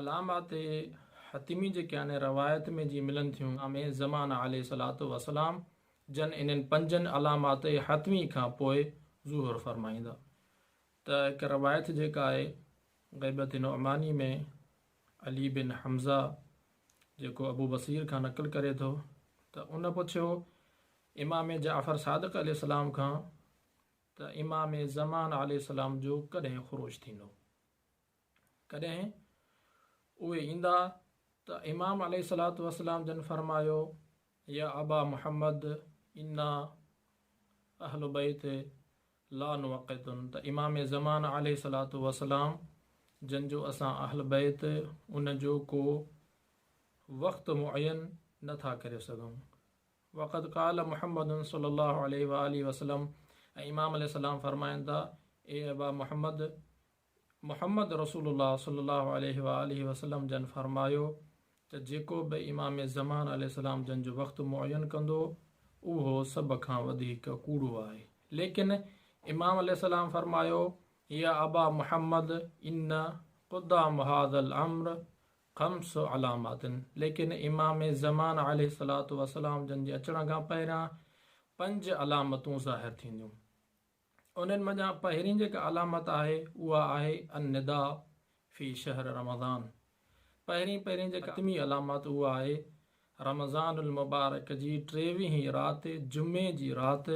علامات حطمي جيڪي آهن روايت ۾ جي ملن ٿيون ان ۾ زمان عليه الصلوة والسلام جن انهن پنجن علامات حطمي کان پوء ظهور فرمائيندا ته هڪ روايت جيڪا آهي غيبت نعماني ۾ علي بن حمزه جيڪو ابو بصير کان نقل ڪري ٿو ته ان پڇيو امام جعفر صادق عليه السلام کان ته امام زمان عليه السلام جو ڪڏهن خروج ٿيندو ڪڏهن اهي ايندا ته امام عليه الصلوة والسلام جن فرمايو، يا ابا محمد انا اهل بيت لا نوقتن ته امام زمان عليه الصلوة والسلام جن جو اسان اهل بيت ان جو ڪو وقت معين نه ٿا ڪري سگهون. وقد قال محمد صلي الله عليه واٰله وسلم ۽ امام عليه السلام فرمائن ٿا، اي ابا محمد! محمد رسول الله صلي الله عليه وآله وسلم جن فرمايو ته جيڪو به امام زمان عليه السلام جن جو وقت معين ڪندو اهو سڀ کان وڌيڪ ڪوڙو آهي ليڪن امام عليه السلام فرمايو يا ابا محمد ان قدام هذا الامر خمس علامات ليڪن امام زمان عليه الصلوة والسلام جن جي اچڻ کان پهريان پنج علامتون ظاهر ٿينديون. انهن منجهان پهرين جيڪا علامت آهي اها آهي النداء في شهر رمضان پهرين پهرين جيڪا حتمي علامت اها آهي رمضان المبارڪ جي ٽيويهين رات جمعي جي رات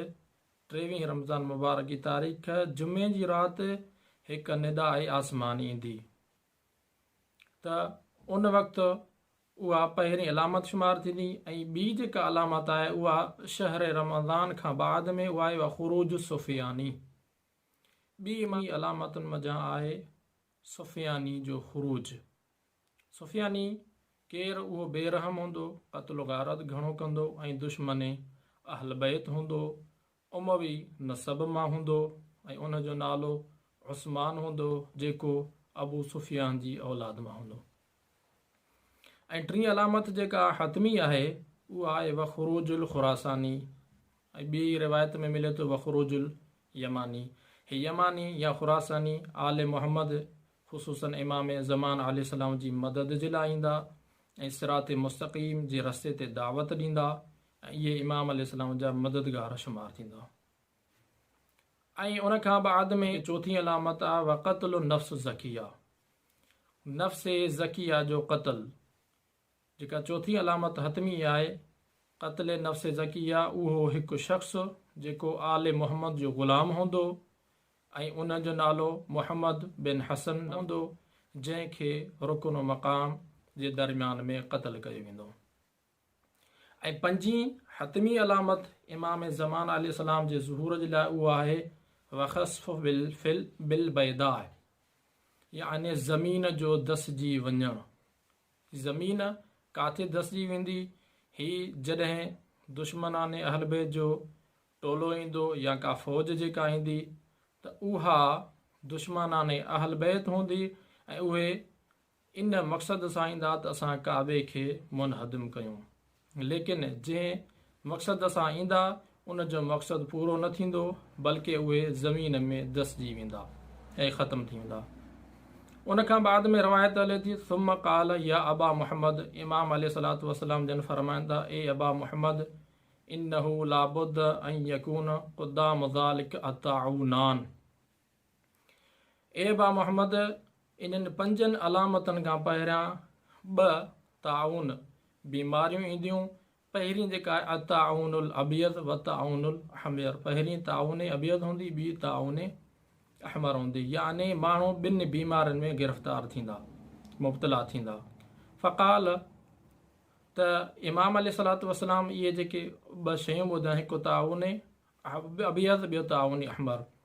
ٽيويهين رمضان مبارڪ جي تاريخ جمعي جي رات هڪ نداء آسماني ايندي ته ان وقت اها پهرين علامت شمار ٿيندي ۽ ٻي جيڪا علامت آهي اها شهر رمضان کان بعد ۾ اها آهي وخروج السفياني ٻي امامي علامتن منجهان آهي سفياني جو خروج سفياني ڪير اهو بي رحم هوندو قتل و غارت گهڻو ڪندو ۽ دشمن اهل بيت هوندو اموي نسب مان هوندو ۽ ان جو نالو عثمان هوندو جيڪو ابو سفيان جي اولاد مان هوندو ۽ ٽين علامت جيڪا حتمي آهي اها آهي وخروج الخراساني ۽ ٻي روايت ۾ ملي ٿو وخروج اليماني هي يماني يا خراساني آل محمد خصوصن امام زمان عليه السلام جي مدد جي لاء ايندا ۽ صراط مستقيم جي رستي تي دعوت ڏيندا ۽ اهي امام عليه السلام جا مددگار شمار ٿيندا. ۽ ان کان بعد ۾ چوٿين علامت آهي وقتل النفس الزڪيه، نفس زڪيه جو قتل، جيڪا چوٿين علامت حتمي آهي، قتل نفس زڪيه، اهو هڪ شخص جيڪو آل محمد جو غلام هوندو ۽ ان جو نالو محمد بن حسن هوندو، جنهن کي رڪن مقام جي درميان ۾ قتل ڪيو ويندو. ۽ پنجين حتمي علامت امام زمان عليه السلام جي ظهور جي لاء اهو آهي، وخسف بالبيداء، يعني زمين جو دسجي وڃڻ. زمين ڪاٿي دسجي ويندي؟ هي جڏهن دشمنان اهلبيت جو ٽولو ايندو يا ڪا فوج جيڪا ايندي ته اها دشمنان اهلبيت هوندي ۽ اهي ان مقصد سان ايندا ته اسان ڪعبي کي منهدم ڪيون. ليڪن جنهن مقصد سان ايندا ان جو مقصد پورو نه ٿيندو بلڪه اهي زمين ۾ دسجي ويندا ۽ ختم ٿي ويندا. ان کان بعد ۾ روايت هلي ٿي ثم قال يا ابا محمد امام عليه الصلوة والسلام جن فرمائن ٿا اي ابا محمد انه لابد ان يڪون قدام ذلڪ الطاعونان. اي ابا محمد! انهن پنجن علامتن کان پهريان ٻه، طاعون، بيماريون اينديون، پهرين جيڪا آهي الطاعون الابيض والطاعون الاحمر، پهرين طاعون ابيض هوندي، ٻي طاعون احمر هوندي، يعني ماڻهو ٻن بيمارين ۾ گرفتار ٿيندا، مبتلا ٿيندا. فقال، ته امام عليه الصلوة والسلام اهي جيڪي ٻه شيون ٻڌائين، هڪ طاعون ابيض، ٻيو طاعون احمر،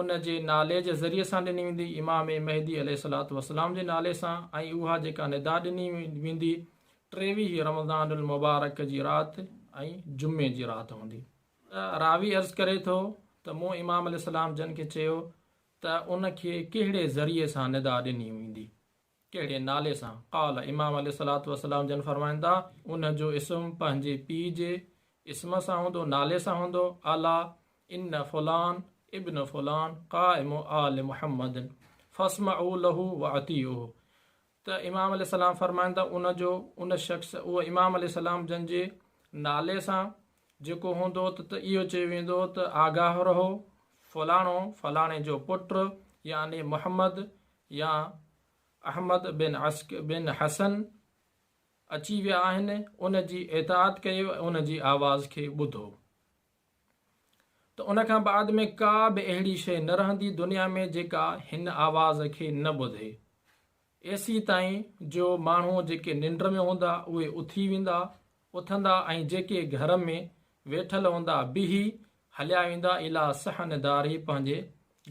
ان جي نالي جي ذريعي سان ڏني ويندي، امام مهدي عليه الصلوة والسلام جي نالي سان ۽ اها جيڪا ندا ڏني ويندي ٽيويهه رمضان المبارڪ جي رات ۽ جمعي جي رات هوندي. راوي عرض ڪري ٿو ته مون امام عليه السلام جن کي چيو ته ان کي ڪهڙي ذريعي سان ندا ڏني ويندي ڪهڙي نالي سان؟ قال، امام عليه الصلوة والسلام جن فرمائندا، ان جو اسم پنهنجي پيء جي اسم سان هوندو، نالي سان هوندو، الا ان فلان ابن فلان قائم آل محمد فاسمعوا له واطيعوه ته امام عليه السلام فرمائندا، ان جو ان شخص اهو امام عليه السلام جن جي نالي سان جيڪو هوندو ته ته اهو چيو ويندو ته آگاهه رهو فلاڻو فلاڻي جو پٽ يعني محمد يا احمد بن عسڪ بن حسن اچي ويا آهن ان جي اطاعت ڪيو ۽ ان جي آواز کي ٻڌو ته ان کان بعد ۾ ڪا به اهڙي شيء نه رهندي دنيا ۾ جيڪا هن آواز کي نه ٻڌي ايسيتائين جو ماڻهو جيڪي ننڊ ۾ هوندا اهي اٿي ويندا اٿندا ۽ جيڪي گهر ۾ ويٺل هوندا بيهي هليا ويندا اليٰ صحن داري پنهنجي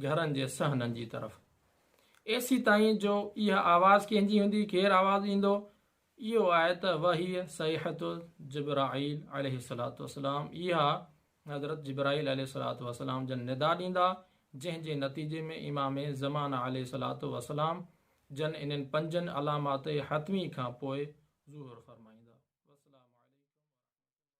گهرن جي صحنن جي طرف ايسي تائين جو اها آواز ڪنهن جي هوندي ڪير آواز ڏيندو اهو آهي ته وهي صيحت جبرائيل عليه الصلات والسلام اها حضرت جبرائيل عليه الصلات والسلام جن ندا ڏيندا جنهن جي نتيجي ۾ امام زمانه عليه الصلات والسلام جن انهن پنجن علامات حتمي کان پوء ظهور فرمائيندا. والسلام عليڪم ورحمة الله.